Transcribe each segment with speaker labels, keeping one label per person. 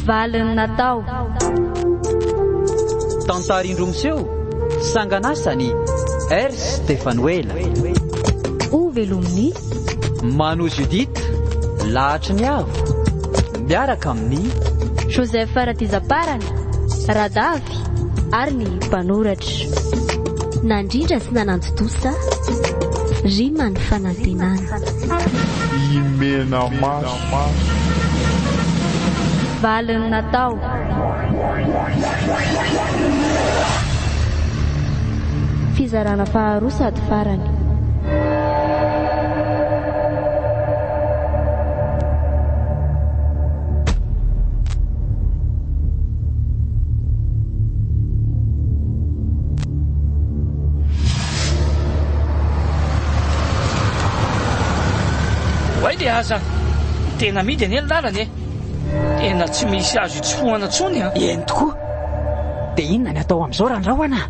Speaker 1: Valiny
Speaker 2: natao.
Speaker 3: Tantara indroa miseho, sangan'asany, Ers Stefanoela.
Speaker 2: Ho velomin'i.
Speaker 3: Mano Judith, lahatry ny avo, miaraka amin'ny. Joseph
Speaker 2: Ratizaparana, Radavy, ary ny mpanoratra. Nandrindra sy nanantontosa, rima ny fanantenana.
Speaker 1: Imena maso.
Speaker 2: Valiny natao, Fizarana faharoa sady farany.
Speaker 4: Oay le aza! Tena amidy anie ny lalana e! Tena tsy misy azo itsofohana intsony an! Eny tokoa!
Speaker 3: Dia inona ny atao amin'izao Randrahona?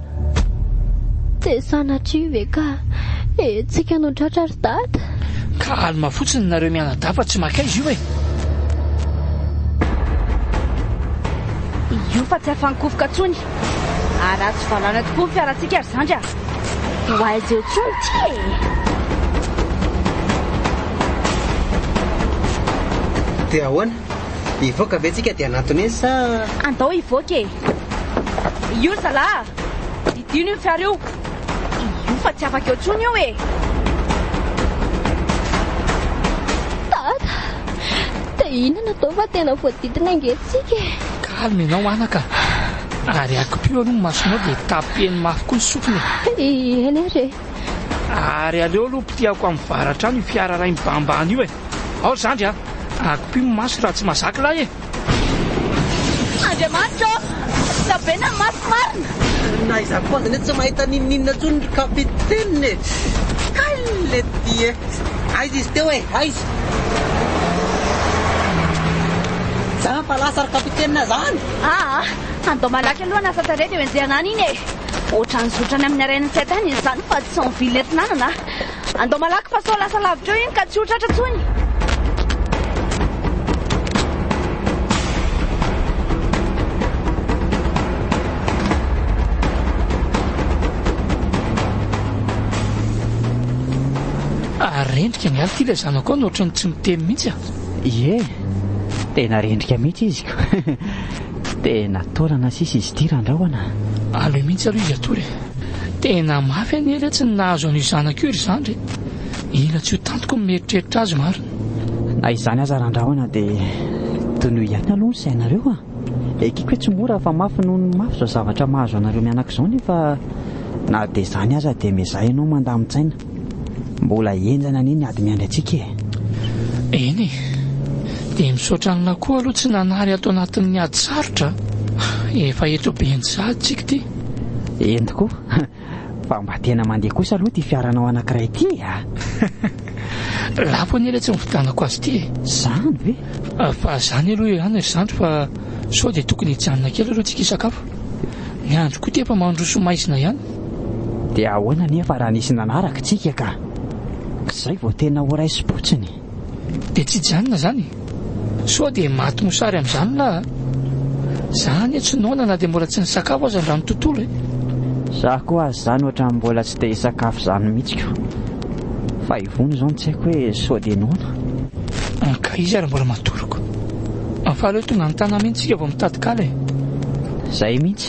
Speaker 2: Tsy sanatria ve ka hetsika no tratra ry Dada? Calme
Speaker 4: fotsiny nareo mianadahy fa tsy makaiza io e!
Speaker 5: Io fa tsy afa-nikofoka intsony! Ary azo valana tokoa ny fiarantsika ry Zandry a! Tsy ho aiza eo intsony ity e!
Speaker 6: Dia ahoana? Hivoaka ve tsika dia hanatona izy sa? Andao hivoaka e!
Speaker 5: Io zala! Didino io fiara io! Io fa tsy afaka eo intsony io e!
Speaker 2: Tata! Dia inona no atao fa tena voadidina ange tsika e! Calme ianao anaka!
Speaker 4: Ary akipio aloha ny masonao dia tapeno mafy koa ny sofina e! Eny ary
Speaker 2: e! Ary
Speaker 4: aleo aloha potehako amin'ny varatra any io fiara iray mibahambahana io e! Aory zandry a! Akipio ny maso raha tsy mazaka lahy e! Andriamanitra
Speaker 5: ô! Lavena ny maso marina! Na izaho koa
Speaker 6: aza anie tsy mahita n'inon'inona intsony ry Kapitenina e! Hay lety e! Aiza izy teo e! Aiza? Tsa fa lasa ry Kapitenina izany! Aa! Handao
Speaker 5: malaky aloha hanasa tarehy dia henjehana any iny e! Ohatran'ny zotrany amin'ny harain'ny tsy haitany izy izany fa tsy en ville eto nanana a! Handao malaky fa sao lasa lavitra eo iny ka tsy ho tratra intsony!
Speaker 4: Rendrika ny aly ity ilay zanako ao no ohatran'ny tsy miteny mihitsy a! Ie,
Speaker 3: tena rendrika mihitsy izy ko. Tena taolana sisa izy ity Randrahona a! Aloha mihitsy aloha
Speaker 4: izy atoa re. Tena mafy anie ilay tsy nahazo an'io zanako io ry zandry e! Ila tsy ho tantiko ny mieritreritra azy marina. Na izany
Speaker 3: aza Randrahona dia tonoy ihany aloha ny sainareo a! Ekeko hoe tsy mora fa mafy noho ny mafy izao zavatra mahazo anareo mianaka izao nefa na dia izany aza dia miezaha ianao mandamin-tsaina. Mbola henjana anie ny ady miandry antsika e! Eny e!
Speaker 4: Dia misaotra anla koa aloha tsy nanary ato anatin'ny ady sarotra a! Efa eto Benja tsika ity. Eny tokoa!
Speaker 3: Fa mba tena mandeha kosa aloha ity fiaranao anankiray ity a!
Speaker 4: Lafo anie ilay tsy nividianako azy ity e! Zany ve?
Speaker 3: Fa zany
Speaker 4: aloha ihany ry zandry fa sao dia tokony hijanona kely aloha tsika hisakafo. Ny andro koa ity efa mandroso maizina ihany. Dia
Speaker 3: ahoana anefa raha nisy nanaraka antsika ka izay vao tena ho raisim-potsiny? Dia tsy
Speaker 4: hijanona izany? Sao dia maty mosary amin'izany ny lahy a! Za anie tsy noana na dia mbola tsy nisakafo aza androany tontolo e! Za koa
Speaker 3: aza izany ohatran'ny mbola tsy dia hisakafo izany mihitsy ko! Fa ivony izao no tsy haiko hoe sao dia noana? An ka
Speaker 4: iza ary mbola matoroko? An fa aleo tonga any tanàna iny tsika vao mitady kala e! Izay
Speaker 3: mihitsy!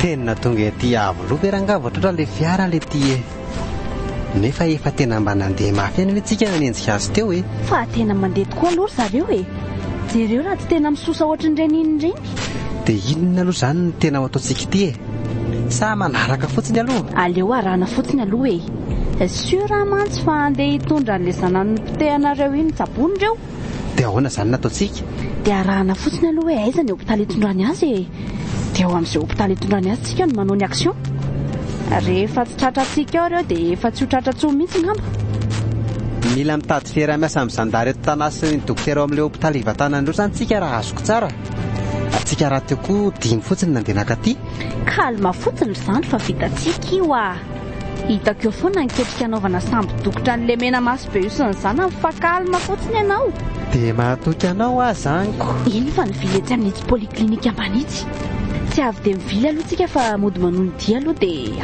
Speaker 6: tena tonga ety avo loha ve rangaha vao tratra ilay fiara ilay ty e nefa efa tena mba nandeha mafy any antsika nanenjika azy teo e fa tena mandeha tokoa
Speaker 5: aloha ry zareo e jereo raha
Speaker 6: tsy tena misosa
Speaker 5: ohatry ny
Speaker 6: reniny
Speaker 5: ireny
Speaker 6: dia
Speaker 5: inona
Speaker 6: aloha izany
Speaker 5: ny
Speaker 6: tena ho
Speaker 5: ataontsika
Speaker 6: ity
Speaker 5: e
Speaker 6: Sa manaraka fotsiny aloha? Aleo arahana fotsiny
Speaker 5: aloha e! Sûr aho mantsy fa handeha hitondra an'ilay zanany nopotehanareo iny tsaboina ireo! Dia ahoana
Speaker 6: izany no ataontsika? Dia arahana
Speaker 5: fotsiny aloha hoe aiza ny hopitaly hitondrany azy e! Dia ao amin'izay hopitaly hitondrany azy tsika no manao ny action! Rehefa tsy tratra antsika ao ireo dia efa tsy ho tratra intsony mihitsy ngamba!
Speaker 6: Mila mitady fiaraha-miasa amin'ny zandary eto Tanà sy ny dokotera ao amin'ilay hopitaly hivantanan'ireo izany tsika raha azoko tsara! Tsika raha teo koa dimy fotsiny ny nandeha naka aty. Calme fotsiny
Speaker 5: ry zandry fa vitantsika io ah. Hitako eo foana ny ketrika anaovana sambo dokotra an'i Lemena maso be io sy ny zanany fa calme fotsiny ianao. Dia mahatoky
Speaker 6: anao aho zaniko. Eny fa nivily etsy
Speaker 5: amin'itsy polyclinique ambany itsy. Tsy avy dia mivily aloha tsika fa mody manohy ny dia aloha dia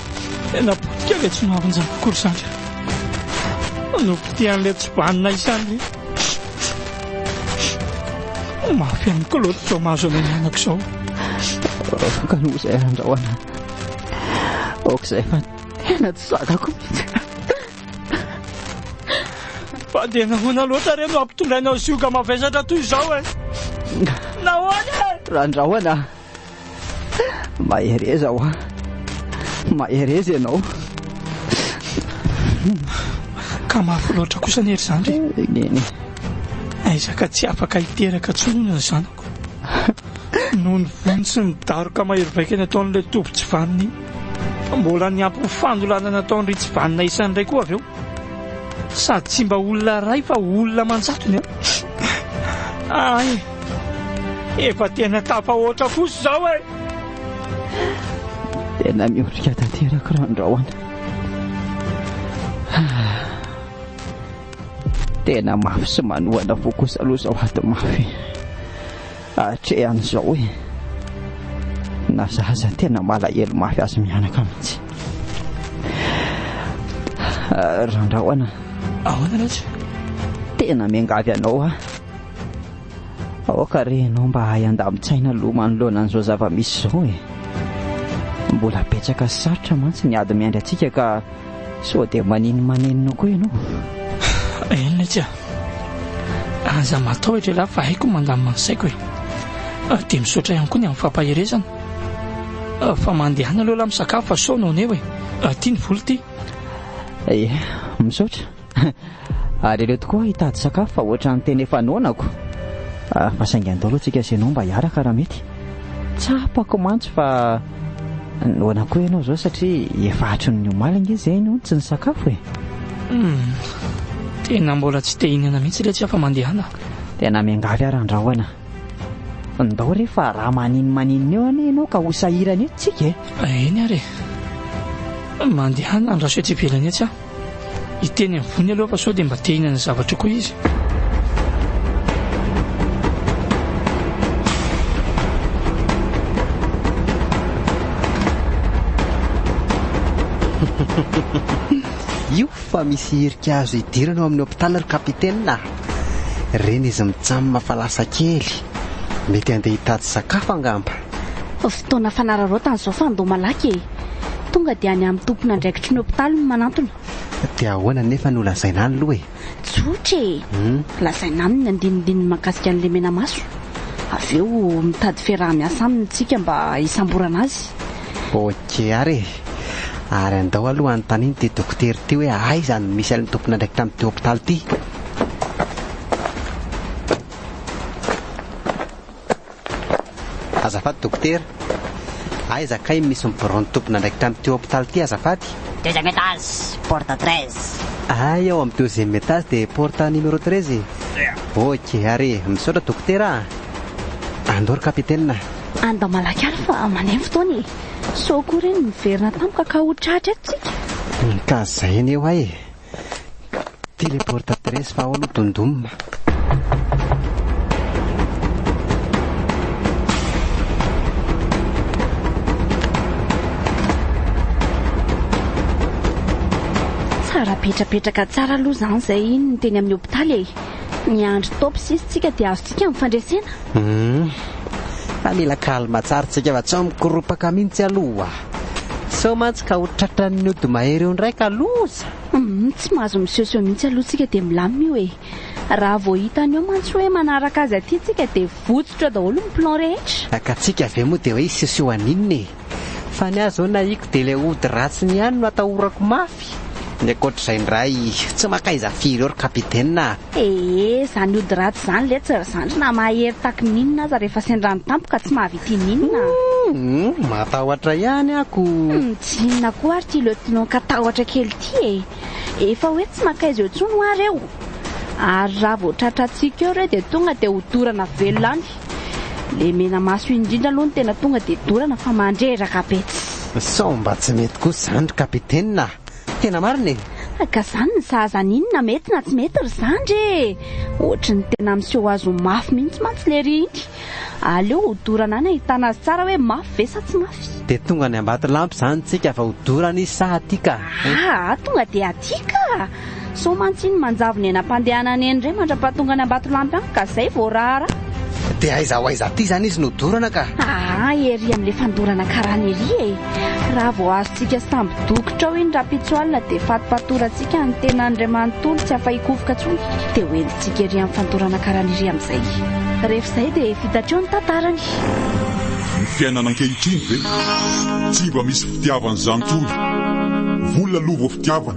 Speaker 4: Tena potika ve tsy maharonjaka akory izany re? Nopitihan'ilay tsy banina izany re. Mafy an'i Claude izao mahazo anay mianaka izao.
Speaker 3: Ka noho izay andraoana. Aoka izay fa tena tsy zakako mihitsy.
Speaker 4: Fa dia nahoana loatra re no hampitondrainao zioga mavesatra toy izao e? Nahoana e? Randraoana.
Speaker 3: Mahereza hoa! Mahereza ianao!
Speaker 4: Ka mafy loatra kosa anie ry zandry e! Neny!
Speaker 3: Aiza
Speaker 4: ka tsy afaka hiteraka intsony hono ny zanako! Noho ny vono sy ny daroka mahery vaika nataon'ilay toby tsy vanona iny! Mbola niampy ny fandolana nataon-dry tsy vanona isany indray koa avy eo! Sady tsy mba olona iray fa olona aman-jatony an! Ay! Efa tena tafahoatra kosa izao e!
Speaker 3: Tena miondrika tanteraka Randrahona. Tena mafy sy manohana fo kosa aloha izao ady mafy hatrehan'izao e! Na za aza tena malahelo mafy azy mianaka mihitsy. Randrahona. Ahoana loatra?
Speaker 4: Tena
Speaker 3: miangavy anao aho. Aoka re ianao mba hahay handamin-tsaina aloha manoloana an'izao zava-misy izao e. Mbola betsaka sy sarotra mantsy ny ady miandry antsika ka sao dia maninomanenina koa ianao. Eny
Speaker 4: letsy a! Aza matahotra ialahy fa haiko ny mandamina ny saiko e. Dia misaotra ihany koa ny amin'ny fampaherezana. Fa mandeha any aloha ialahy misakafo fa sao no aneo e. Ty ny vola ty. Ie, misaotra.
Speaker 3: Ary aleo tokoa hitady sakafo fa ohatran'ny tena efa noanako. Fa saingy andao aloha tsika sy ianao mba hiaraka raha mety. Tsapako mantsy fa noana koa ianao izao satria efa hatrin'ny omaly ange izay no tsy nisakafo e. Humm,
Speaker 4: tena mbola tsy te hihinana mihitsy ilay tsy afa-mandehana. Tena miangavy
Speaker 3: ary andrahoana. Ndao re fa raha maninomaninona eo anie ianao ka ho sahirana etsy tsika e. Eny ary e.
Speaker 4: Mandehana andraso etsy ivelany etsy aho. Hiteny ambony aloha fa sao dia mba te hihinana zavatra koa izy.
Speaker 6: Io fa misy hirika azo hidirana ao amin'ny hôpitaly ry kapitena. Reny izy mijanona fa lasa kely. Mety handeha hitady sakafo angamba. Fotoana
Speaker 5: fanararaotana izao fa ndao malaky e. Tonga dia any amin'ny tompon'andraikitry ny hopitaly no manantona. Dia ahoana
Speaker 6: anefa no lazaina any aloha e? Tsotra e!
Speaker 5: Lazaina any ny andinindininy mahakasika an'i Lemenamaso. Avy eo mitady fiaraha-miasa aminy isika mba hisamborana azy. Ok
Speaker 6: ary e! Ary andao aloha anontaniana ity dokotera ity hoe aiza no misy an'ilay tompon'andraikitra amin'ity hopitaly ity. Azafady dokotera, aiza kay misy miborony tompon'andraikitra amin'ity hopitaly ity azafady? Deuxième étage,
Speaker 7: porte treize. Ay ao am
Speaker 6: deuxième étage de porte numéro treize e. Ok ary misaotra dokotera a. Andao ry kapitena. Andao malaky
Speaker 5: ary fa mandeha ny fotoana e. Sao koa ireny miverina tampoka ka ho tratra eto tsika. Ka zay
Speaker 6: anie hoay e. Téléporte adresse fa ao aloha dondoma.
Speaker 5: petrapetraka tsara aloha zany zay iny ny teny amin'ny hopitaly e miandry top sisy tsika dia azontsika amin'ny fandresena hmm.
Speaker 6: fa mila kalma tsara tsika fa tsy ao mikoropaka mihitsy aloha Sao mantsy ka ho tratran'ny ody mahery eo indray ka loza! Humm tsy mahazo
Speaker 5: misehoseho mihitsy aloha tsika dia milamina io e! Raha vao hitany eo mantsy hoe manaraka azy aty tsika dia votsotra daholo ny plan rehetra! Ka tsika ve moa dia
Speaker 6: hoe hisehoseho haninona e! Fa ny ahy zao nahiko dia ilay ody ratsiny ihany no atahorako mafy! Manampy. Ny ankoatr'izay indray tsy mankaiza firy eo ry Kapitena a! Ee, zany
Speaker 5: ody ratsy zany letsy ry zandry na mahery taky ny inona aza rehefa sendra ny tampoka tsy mahavita ininona a! Humm,
Speaker 6: matahotra ihany ako! Humm, tsy inona
Speaker 5: koa ary ity Lieutenant katahotra kely ity e! Efa hoe tsy mankaiza eo intsony hoa reo! Ary raha vao tratrantsika eo reo dia tonga dia hodorana velona any! Le menamaso iny indrindra aloha no tena tonga dia dorana fa mandreraka be tsy. Sao mba tsy mety
Speaker 6: kosa izany ry Kapitena a! Tena marina e! Ah ka izany ny zaza
Speaker 5: any iny na mety na tsy mety ry zandry e! Ohatry ny tena miseho azy ho mafy mihitsy mantsy lery iny! Aleo ho dorana any ahitana azy tsara hoe mafy ve sa tsy mafy! Dia tonga any Ambatolampy
Speaker 6: izany tsika vao dorana izy sa aty ka? Ah! Tonga dia
Speaker 5: aty ka! Sao mantsy iny manjavona eny am-pandehanana eny indray mandrapahatonga any Ambatolampy any ka izay vao raharaha. Dia aiza ho
Speaker 6: aiza aty izany izy no dorana ka? Aa ery amin'ilay
Speaker 5: fandorana karana ery e! Raha vao azontsika sambo-dokotra ao iny rahampitso alina dia fatim-patorantsika ny tenan'Andriamanontolo tsy afa-hikofoka intsony dia ho entintsika ery amin'ny fandorana karana ery amin'izay. Rehefa izay dia vita hatreo ny tantarany. Ny
Speaker 1: fiainana ankehitriny ve tsy mba misy fitiavan'ny zantony? Vola aloha vao fitiavana.